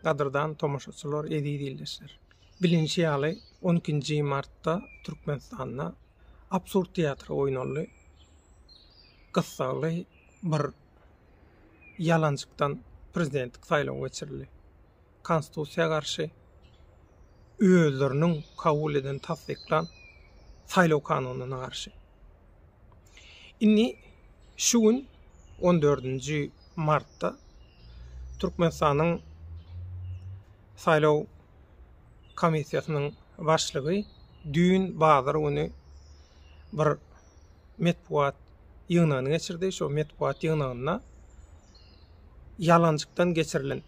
Gadyrdan tomaşaçylar, eziz ildeşler. Bilinçi ýaly 12-nji martda Türkmenistanda absurd teatry oýnaldy. Gyssagly bir ýalançykdan prezidentlik saýlawy geçirildi. Konstitusiýa garşy özleriniň kabul eden tassyklan saýlaw kanunyna garşy. Indi şu gün on dördünji martda Türkmenistanyň saýlaw komissiýasynyň başlygy düýn bazar güni bir metbugat ýygnagyny geçirdi. Şo metbugat ýygnagynda ýalanjykdan geçirilen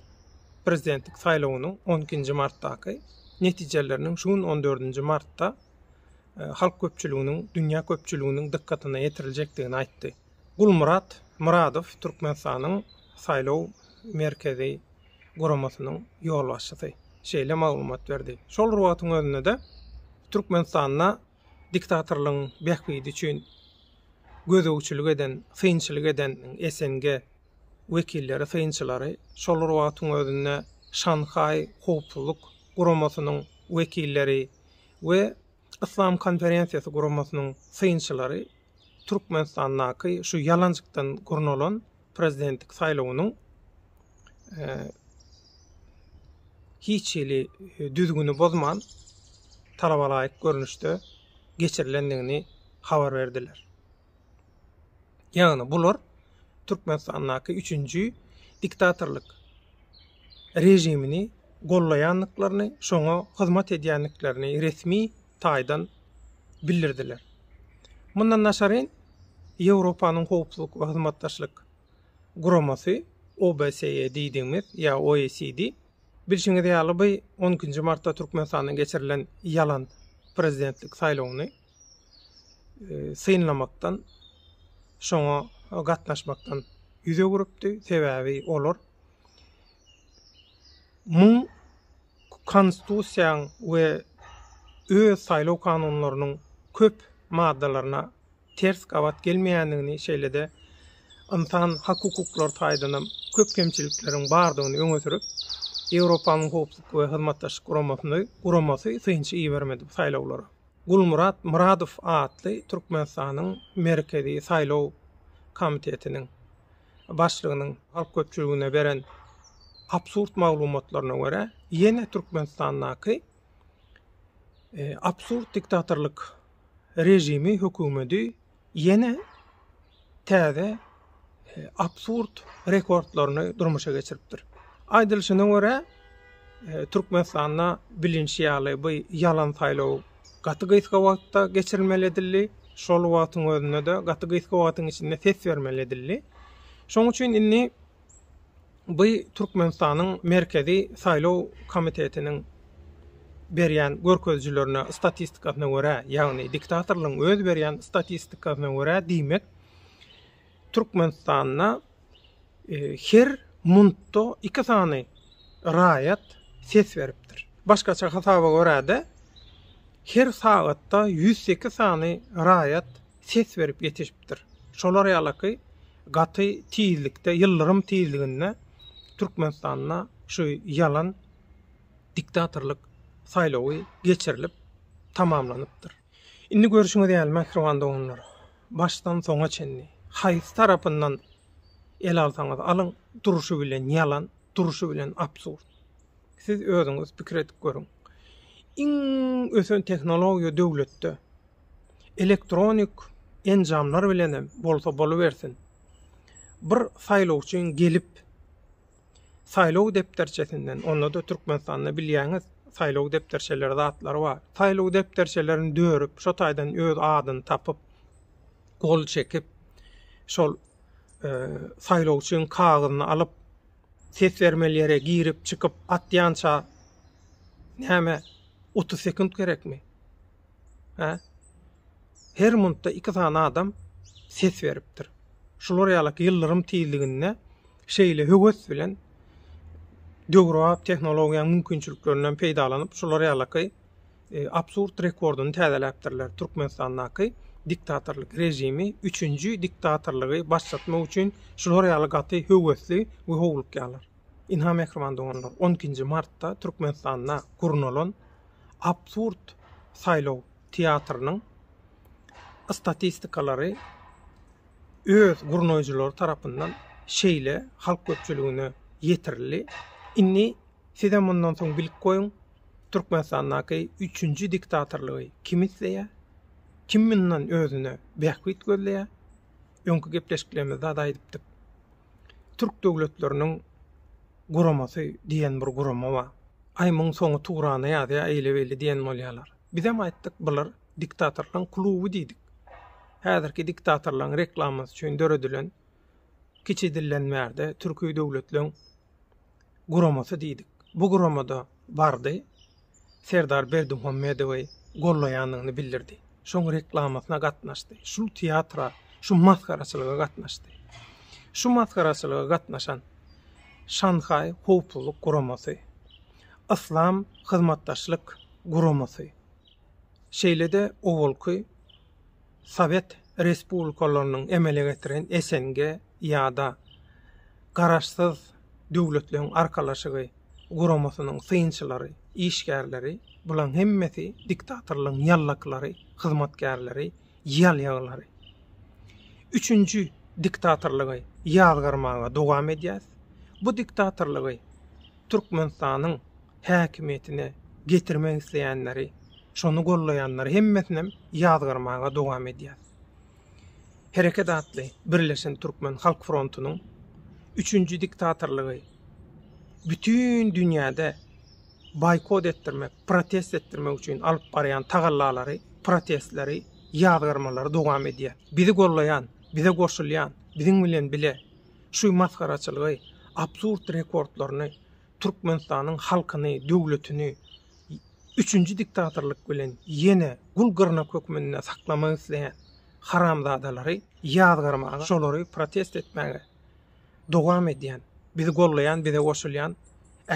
prezidentlik saýlawynyň on ikinji martdaky netijeleriniň şu gün on dördünji martda halk köpçüliginiň, dünýä köpçüliginiň dykgatyna ýetiriljekdigini aýtdy. Gulmyrat Myradow Türkmenistanyň Saýlaw merkezi guramasynyň ýolbaşçysy şeýle maglumat berdi. Şol bir wagtyň özünde-de Türkmenistanda diktatorlygyň bähbidi üçin gözegçilik eden, synçylyk eden SNG wekilleri, synçylary şol bir wagtyň özünde Şanhaý howpsuzlyk guramasynyň wekilleri we Yslam konferensiýasy guramasynyň synçylary Türkmenistandaky şu ýalanjykdan gurnalan prezidentlik saýlawynyň hiç hili düzgüni bozman talabalaýyk görnüşde geçirilendigini habar berdiler. Ýagny bular Türkmenistandaky üçünji diktatorlyk režimini gollaýandyklaryny, şoňa hyzmat edýändiklerini resmi taýdan bildirdiler. Mundan daşaryn, Ýewropanyň Howpsuzlyk we Hyzmatdaşlyk Guramasy, OBSE diýdigimiz ýa OECD, bilşiňiz ýaly bu on ikinji martda Türkmenistanda geçirilen ýalan prezidentlik saýlawyny synlamakdan, şoňa gatnaşmakdan ýüz öwrüpdi, sebäbi olar muň Konstitusiýaň we öz saýlaw kanunlarynyň köp maddalaryna ters gabat gelmeýändigini, şeýle-de ynsan hak-hukuklary taýdanam köp kemçilikleriň bardygyny öňe sürüp, Ýewropanyň Howpsuzlyk we Hyzmatdaşlyk Guramasyny guramasy synçy ibermedi bu saýlawlara. Gulmyrat Myradow atly Türkmenistanyň Merkezi saýlaw komitetiniň başlygynyň halk köpçüligine beren absurd maglumatlaryna görä, ýene Türkmenistandaky absurd diktatorlyk režimi, hökümedi ýene täze absurd rekordlaryny durmuşa geçiripdir. Aýdylyşyna görä, Türkmenistanda bilinşi ýaly bu ýalan saýlaw gaty gysga wagtda geçirilmeli edildi. Şol wagtyň özünde-de gaty gysga wagtyň içinde ses bermeli edildi. Şoň üçin indi bu Türkmenistanyň Merkezi saýlaw komitetiniň berýän görkezijilerine, statistikasyna görä, ýagny diktatorlaryň öz berýän statistikasyna görä diýmek, Türkmenistanda her muntda iki sany raýat ses beripdir. Başgaça hasaba görä-de, her sagatda ýüz sekiz sany raýat ses berip ýetişipdir. Şolar ýalyky gaty tizlikde, ýyldyrym tizliginde Türkmenistanda şu ýalan diktatorlyk saýlawy geçirilip tamamlanypdyr. Indi görşüňiz ýaly, mähriban doganlar, başdan soňa çenli haýsy tarapyndan ele alsaňyz alyň, durşy bilen ýalan, durşy bilen absurd. Siz özüňiz pikir edip görüň. Iň ösen tehnologiýa döwletde elektronik enjamlar bilenem bolsa bolubersin, bir saýlawçyň gelip, saýlaw depderçesinden, onda-da Türkmenistanda bilýäňiz, saýlaw depderçeleri zatlary bar. Saýlaw depderçelerini dörüp, şo taýdan öz adyny tapyp, gol çekip, şol e, saýlawçyň kagyzyny alyp, ses bermeli ýere girip, çykyp atýança näme 30 sekund gerekmi? Hä? Her minutda iki sany adam ses beripdir. Şular ýaly ýyldyrym tizliginde Şeýle höwes bilen döwrebap tehnologiýanyň mümkinçiliklerinden peýdalanyp, şular ýalyky absurd rekordyny täzeläpdirler, Türkmenistandaky diktatorlyk režimi üçünji diktatorlygy başlatmak üçin şular ýaly gaty höwesli we howlukýarlar. Ynha, mähriban doganlar, on ikinji martda Türkmenistanda gurnalan absurd saýlaw teatrynyň statistikalary, öz gurnaýjylary tarapyndan şeýle halk köpçüligine ýetirildi. Indi sizem mundan soň bilip goýuň, Türkmenistandaky üçünji diktatorlygy kim isleýär? Kim mundan özüne bähbit gözleýär? Öňki gepleşiklerimizde-de aýdypdyk. Türk döwletleriniň guramasy diýen bir gurama bar. Aý muň soňy tugrana ýazýar eýle-beýle diýen bolýarlar. Bizem aýtdyk bular diktatorlaň kluby diýdik. Häzirki diktatorlaň reklamasy üçin döredilen kiçi dilden bärde türki döwletleň guramasy diýdik. Bu guramada bardy. Serdar Berdimuhamedowy gollaýandygyny bildirdi. Şoň reklamasyna gatnaşdy. Şul teatra, şu masgaraçylyga gatnaşdy. Şu masgaraçylyga gatnaşan Şanhaý howpsuzlyk guramasy, Yslam hyzmatdaşlyk guramasy, şeýle-de owalky sowet respublikalarynyň emele getiren SNG ýa-da Garaşsyz Döwletleriň Arkalaşygy guramasynyň synçylary, işgärleri, bulaň hemmesi diktatorlygyň ýallaklary, hyzmatkärleri, ýalýaglary. Üçünji diktatorlygy ýazgarmaga dowam edýäs. Bu diktatorlygy Türkmenistanyň häkimiýetine getirmek isleýänleri, şony gollaýanlary hemmesinem ýazgarmaga dowam edýär. Hereket atly Birleşen Türkmen Halk Frontunyň üçünji diktatorlygy bütin dünýäde boýkot etdirmek, protest etdirmek üçin alyp barýan tagallalary, protestleri, ýazgarmalary dowam edýär. Bizi gollaýan, bize goşulýan, biziň bilen bile şu masgaraçylygy, absurd rekordlaryny Türkmenistanyň halkyny, döwletini üçünji diktatorlyk bilen ýene gul gyrnak hökmünde saklamak isleýän haramzadalary ýazgarmaga, şolary protest etmäge dowam edýän, bizi goldaýan, bize goşulýan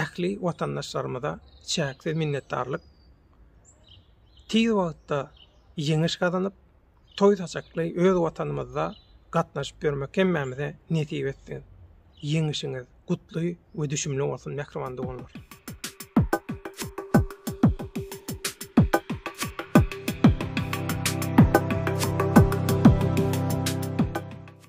ähli watandaşlarymyza çäksiz minnetdarlyk. Tiz wagtda ýeňiş gazanyp, Toý saçakly öz watanymyzda gatnaşyp ýörmek hemmämize nesip etsin. Ýeňişiňiz gutly we düşümli bolsun mähriban doganlar.